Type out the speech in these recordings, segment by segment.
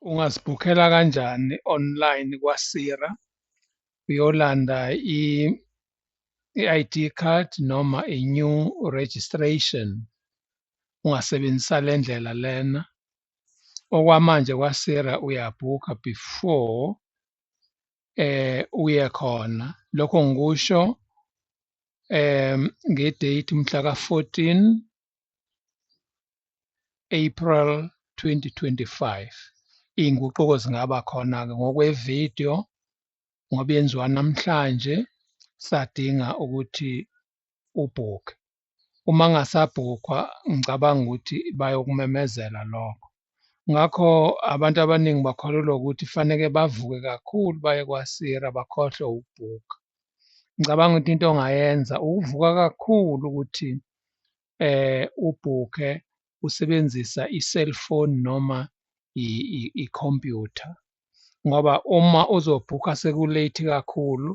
ungasibhukhela kanjani online kwaSira uyolanda i-ID card noma i-new registration ungasebenzisa le ndlela lena okwamanje kwaSira uyabhukha before eh uye khona lokho ngikusho um ngedate umhla ka-14 April 2025 iy'nguquko zingaba khona-ke ngokwevidiyo ngoba yenziwa namhlanje sadinga ukuthi ubhukhe uma ngasabhukhwa ngicabanga ukuthi bayokumemezela lokho ngakho abantu abaningi bakholelwa ukuthi faneke bavuke kakhulu baye kwasira bakhohlwe ukubhukha ngicabanga ukuthi into ongayenza ukuvuka kakhulu ukuthi eh ubhukhe usebenzisa i-cellphone noma i-computer ngoba uma uzobhukha seku-late kakhulu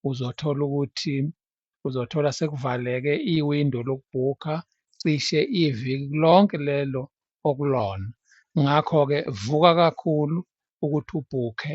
uzothola ukuthi uzothola sekuvaleke iwindo lokubhukha cishe iviki lonke lelo okulona ngakho-ke vuka kakhulu ukuthi ubhukhe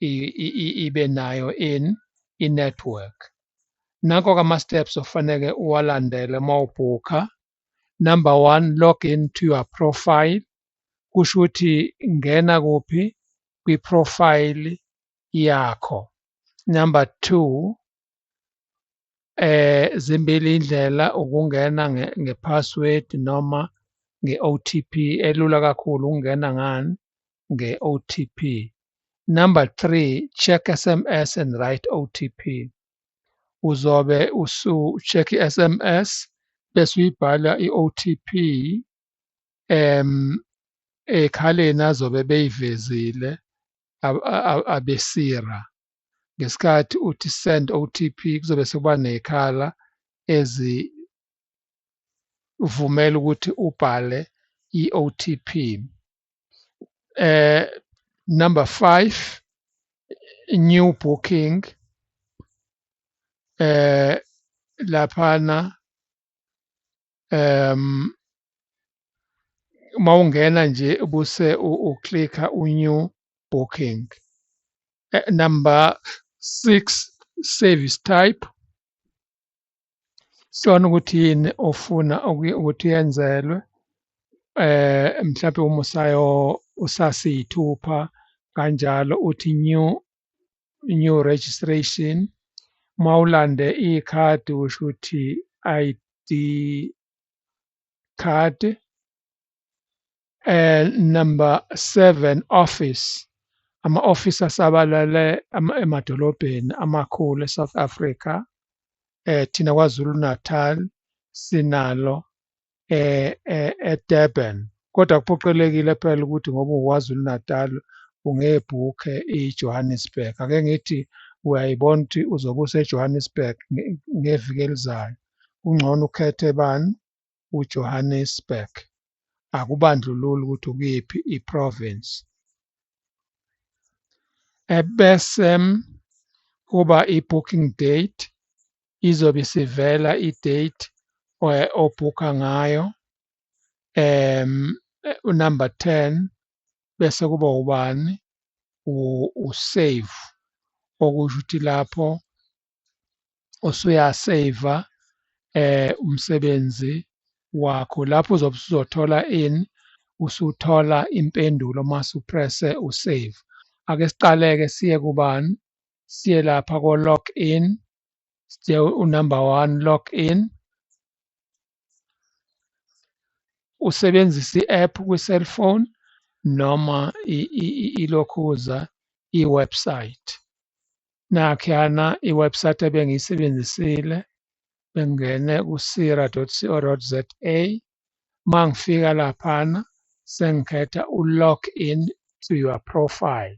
ibe nayo in i-network. Nanko ke ama-steps ofaneke uwalandele uma ubhukha. Number one, log in to your profile. Kusho ukuthi ngena kuphi kwi-profile yakho. Number two, eh zimbili indlela ukungena ngepassword noma nge-OTP elula kakhulu ukungena ngani nge-OTP. Number three, check SMS and write OTP. Uzobe usu-check i-SMS bese uyibhala i-OTP um ekhaleni azobe beyivezile abesira ngesikhathi uthi send OTP kuzobe sekuba nekhala ezivumela ukuthi ubhale i-OTP eh number 5 new booking eh laphana um uma ungena nje buse uklikha u-new booking eh, number six service type sona ukuthi yini ofuna ukuthi yenzelwe eh mhlawumbe uma usayo usasiyithupha kanjalo uthi new new registration ma ulande ikhadi kusho ukuthi ID card eh number 7 office ama office asabalale emadolobheni amakhulu eSouth Africa eh thina KwaZulu Natal sinalo eh, eh, eDurban kodwa kuphoqelekile phela ukuthi ngoba uKwaZulu Natal ungebhukhe iJohannesburg ake ngithi uyayibona ukuthi uzobe useJohannesburg ngeviki elizayo kungcono ukhethe bani uJohannesburg akubandlululi ukuthi ukuyiphi iprovince ebese kuba i-booking date izobe isivela i-date eh, obhukha ngayo um unumber 10 bese kuba ubani usave okusho ukuthi lapho usuyaseva eh umsebenzi wakho lapho uzobe usuzothola ini usuthola impendulo uma usupresse usave ake siqaleke siye kubani siye lapha ko log in siye unumber 1 log in usebenzisa i-app kwi-cellphone noma ilokhuza i-website nakhuyana i-website ebengiyisebenzisile bengingene ku-sira.co.za uma ngifika laphana sengikhetha u-log in to your profile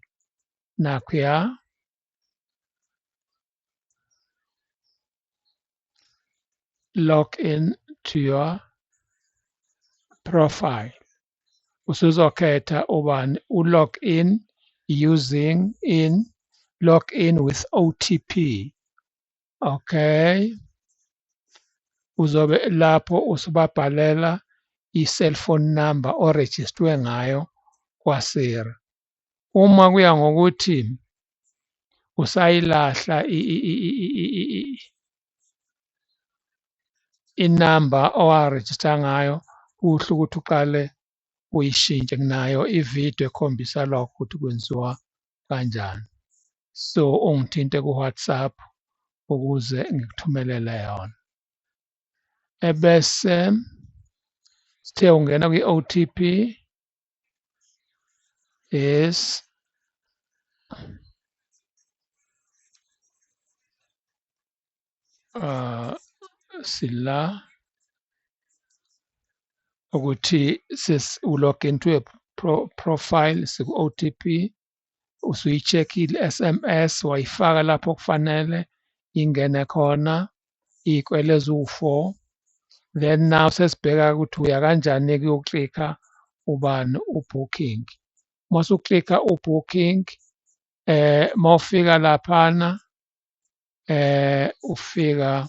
nakhuya log in to your profile usuzokhetha ubani u-log in using in log in with OTP okay uzobe lapho usubabhalela i-cellphone number orejistwe ngayo kwaSiri uma kuya ngokuthi usayilahla inamba owarejista ngayo kuhle ukuthi uqale uyishintshe nginayo ividiyo ekhombisa lokho ukuthi kwenziwa kanjani so ungithinte ku-whatsapp ukuze ngikuthumelele yona ebese sithe ungena kwi-otp is uh, sila ukuthi sis ulog into a pro profile siku-otp usuyi-check i-sms wayifaka lapho kufanele ingene khona iy'kwele eziwu-four then now sesibheka ukuthi uya kanjani kuyoklikha ubani ubooking uma usuklikha ubooking eh mawufika laphana eh ufika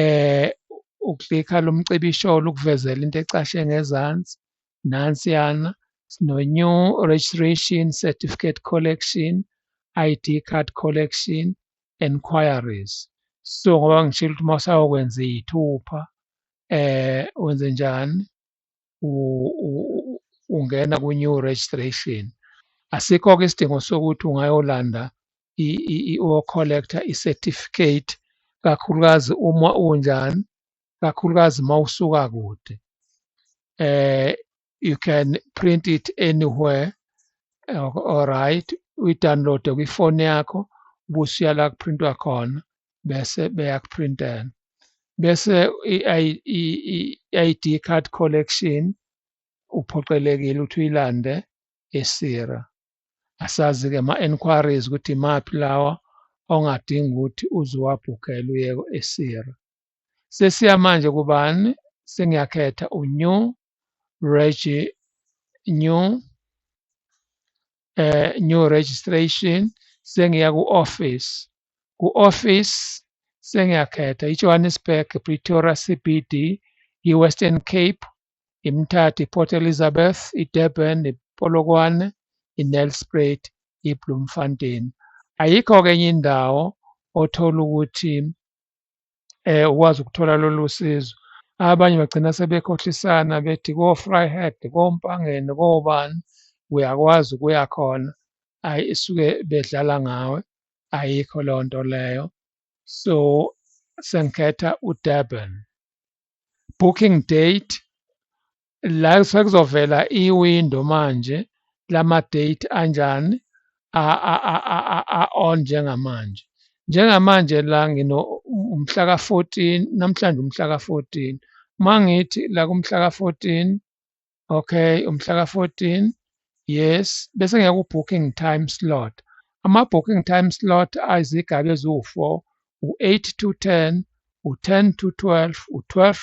eh uklikha lo mcibisho ukuvezela into ecashe ngezansi nansiyana sino-new registration certificate collection ID card collection enquiries so ngoba ngishilo ukuthi uma usayokwenza iy'thupha eh wenze njani ungena kwi-new registration asikho-ke isidingo sokuthi ungayolanda uyocollecta i-certificate kakhulukazi uma unjani kakhulukazi uma usuka kude eh you can print it anywhere all right uyidownloade kwifoni yakho ubusuyala kuprintwa khona bese beyakuprintela bese i-ID card collection uphoqelekile ukuthi uyilande esira asazi-ke ama-enquiries ukuthi imaphi lawa ongadinga ukuthi uzuwabhukela uye esira sesiya manje kubani sengiyakhetha unew regi new eh new registration sengiya ku office ku office sengiyakhetha iJohannesburg Pretoria CBD iWestern Cape iMthatha iPort Elizabeth iDurban iPolokwane iNelspruit iBloemfontein ayikho ke enye indawo othola ukuthi eh, ukwazi ukuthola lolu sizo. Abanye bagcina sebekhohlisana bethi ko-Vryheid, koMpangeni, kobani uyakwazi ukuya khona. Hhayi isuke bedlala ngawe, ayikho leyo nto leyo. So sengikhetha uDurban. Booking date la sekuzovela iwindow manje lama-date anjani a-on njengamanje. Njengamanje la ngino umhla ka-fourteen namhlanje umhla ka-fourteen. Uma ngithi la kumhla ka-fourteen, okay umhla ka-fourteen, yes bese ngiya ku-booking time slot. Ama-booking time slot ayizigaba eziwu-four, u-eight to ten, u-ten to twelve, u-twelve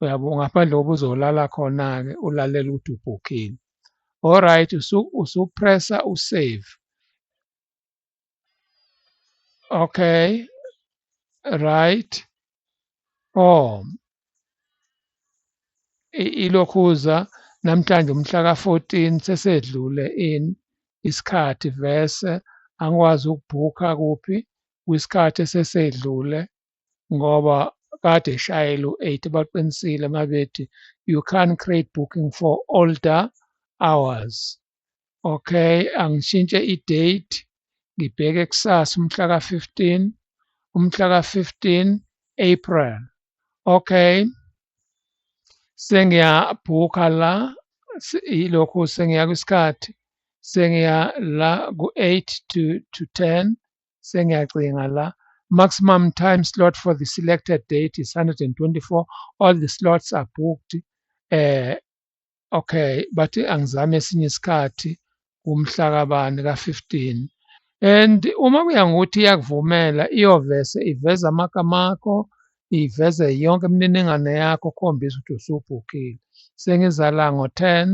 uyabo ngaphandle kokuba uzolala khona-ke ulalele ukuthi ubhukhile alright usupressa usave okay right oh ilokhuza namhlanje umhla ka-14 sesedlule in isikhathi vese angikwazi ukubhukha kuphi kwisikhathi esesedlule ngoba kade ishayela u-eight baqinisile uma bethi you can't create booking for older hours okay angishintshe i-date ngibheke kusasa umhla ka-fifteen umhla ka-fifteen april okay sengiyabhukha la ilokhu sengiya kwisikhathi sengiya la ku-eight to to ten sengiyacinga la maximum time slot for the selected date is 124 all the slots are booked eh okay bathi angizame esinye isikhathi kumhla kabani ka-15 and uma kuya ngokuthi iyakuvumela iyovese iveza amagama akho iveze yonke imininingwane yakho khombisa ukuthi usubhukhile sengiza la ngo-10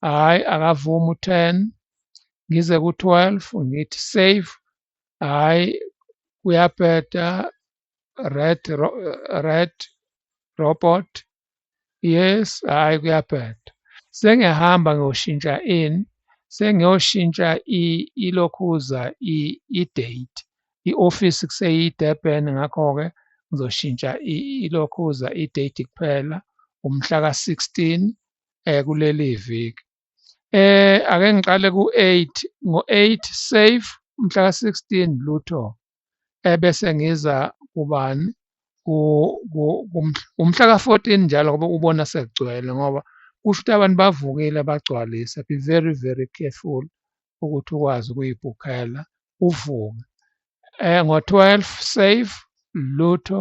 hhayi akavumi u-ten ngize ku-twelve ngithi save hhayi kuyabheda red red robot yes hhayi kuyabheda sengiyahamba ngiyoshintsha in sengiyoshintsha ilokhuza i-date i-ofisi kuseyi-durban ngakho-ke ngizoshintsha ilokhuza i-date kuphela umhla ka-16 eh kuleli viki eh ake ngiqale ku8 ngo8 save umhla ka16 lutho ebese eh, ngiza kubani umhla ka14 njalo ngoba ubona sekugcwele ngoba kusho ukuthi abantu bavukile bagcwalise be very very careful ukuthi ukwazi ukuyibhukhela uvuke eh ngo12 save lutho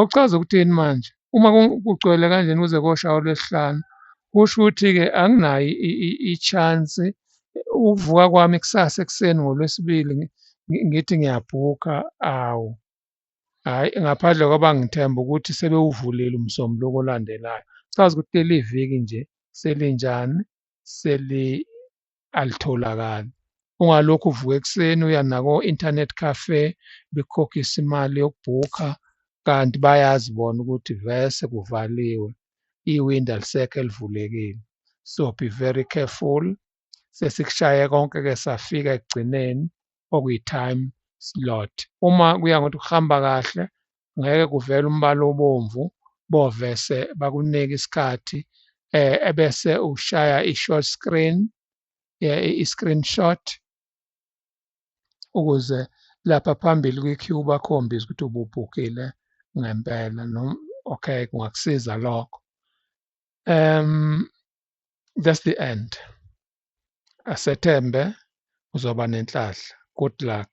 Okuchaza ukuthini manje? Uma kugcwele kanjena kuze koshawa olwesihlanu kusho ukuthi-ke anginayo i-chance ukuvuka kwami kusasa ekuseni ngolwesibili ngithi ngiyabhukha awu hhayi ngaphandle kwaba ngithemba ukuthi sebewuvulile umsombuluko olandelayo chaza ukuthi leli viki nje selinjani alitholakali. Ungalokhu uvuka ekuseni uya nako-internet cafe bekhokhisa imali yokubhukha kanti bayazi bona ukuthi vese kuvaliwe iwindi alisekho elivulekile. So be very careful sesikushaye konke-ke safika ekugcineni okuyi-time slot. Uma kuya ngokuthi kuhamba kahle ngeke kuvele umbala obomvu bovese bakunike isikhathi eh ebese ushaya i-short screen eh, i-screenshot ukuze lapha phambili kwi-queue bakhombise ukuthi ububhukile ngempela noma okay kungakusiza lokho um that's the end Asethembe uzoba nenhlanhla. Good luck.